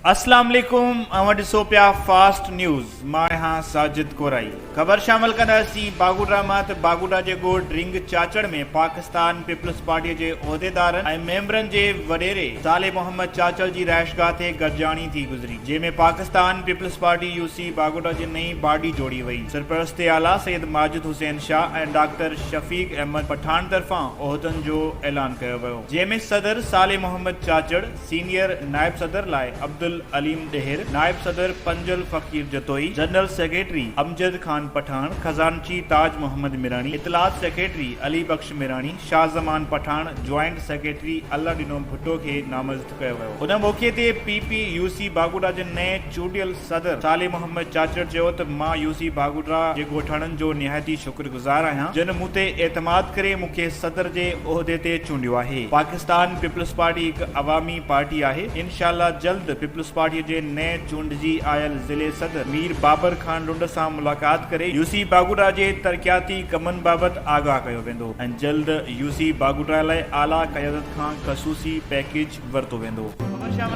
اسلام عليڪم اوهان ڏسو پيا فاسٽ نيوز مان آهيان ساجد ڪورائي خبر شامل ڪنداسين باگوٽا مان ته باگوٽا جي ڳوڙ ڊرنگ چاچڙ ۾ پاڪستان پيپلز پارٽي جي عهديدارن ۽ ميمبرن جي وڏيري صالح محمد چاچڙ جي رهائشگاهه تي گڏجاڻي ٿي گذري جنهن ۾ Pakistan peoples party U C Bagota جي نئين باڊي جوڙي وئي. سرپرست اعليٰ سيد ماجد حسين شاهه ۽ ڊاڪٽر شفيق احمد پٺاڻ طرفان عهدن جو اعلان ڪيو ويو، جنهن ۾ صدر صالح محمد چاچڙ، سينيئر نائب صدر لاء عبدالعليم ڏهر، نائب صدر پنجل فقير جتوئي، جنرل سيڪريٽري امجد خان پٺاڻ، خزانچي تاج محمد ميراڻي، اطلاعات secretary Ali Bakhsh Mirani, Shah Zaman Pathan, joint secretary Allah Dino Bhutto کي نامزد ڪيو. ڪيو ويو. ان موقعي تي P P U C Bagoda جي نئين چونڊيل صدر صالح محمد چاچڙ چيو ته مان يو سي باگوڏا جي ڳوٺاڻن جو نهايتي شڪر گذار آهيان جن مون تي اعتماد ڪري مون کي صدر جي عهدي تي چونڊيو آهي پاڪستان پيپلز پارٽي هڪ عوامي پارٽي آهي انشاء الله جلد پيپلز پارٽي جي نئين چونڊجي آيل ضلعي صدر مير بابر خان لنڊ سان ملاقات ڪري يو سي باگوڏا جي ترقياتي ڪمن بابت آگاهه ڪيو ويندو ۽ جلد يو سي باگوٽا لاء اعليٰ قيادت کان خصوصي پيڪيج ورتو ويندو.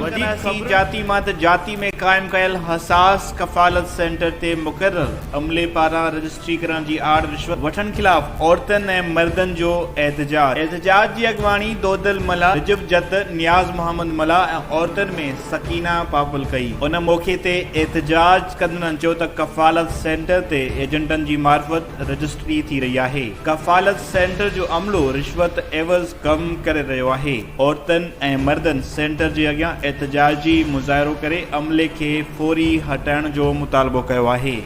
وڌيڪ سي جاتي مان ته جاتي ۾ قائم ڪيل حساس ڪفالت سينٽر تي مقرر عملي پاران رجسٽري ڪرڻ جي آڙ رشوت وٺڻ خلاف عورتن ۽ مردن جو احتجاج احتجاج جي اڳواڻي دودل ملاح، رجب جت، نياز محمد ملاح ۽ عورتن ۾ سڪينه پاپل ڪئي ان موقعي تي احتجاج ڪندڙن چيو ته ڪفالت سينٽر تي ايجنٽن جي معرفت رجسٽري ٿي رهي آهي، ڪفالت سينٽر جو عملو رشوت عيوض ڪم ڪري رهيو آهي، عورتن ۽ مردن سينٽر جي اڳيان احتجاجي مظاهرو ڪري عملي کي فوري هٽائڻ جو مطالبو ڪيو آهي.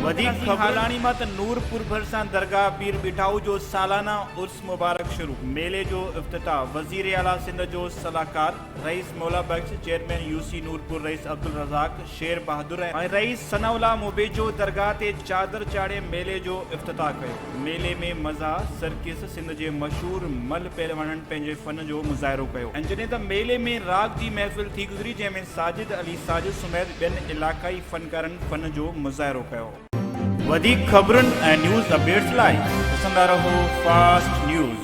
وڌيڪ خبرون هالاڻي مان ته نورپور ڀرسان درگاهه پير ٻيٺائو جو سالانه عرس مبارڪ شروع، ميلي جو افتتاح وزيراعليٰ سنڌ جو صلاحڪار. رئيس Maula Bakhsh, chairman U C Noorpur رئيس عبدالرزاق، شير بهادر ۽ رئيس ثناء الله موبيجو درگاهه تي چادر چاڙهي ميلي جو افتتاح ڪيو. ميلي ۾ مزا سرڪس سنڌ جي مشهور ملهه پهلوانن پنهنجي فن جو مظاهرو ڪيو ۽ جڏهن ته ميلي ۾ راڳ جي محفل ٿي گذري جنهن ۾ ساجد علي ساجد سميت ٻين علاقائي فنڪارن فن جو مظاهرو ڪيو. وڌيڪ خبرن ۽ نيوز اپڊيٽس لاء ڏسندا رهو فاسٽ نيوز.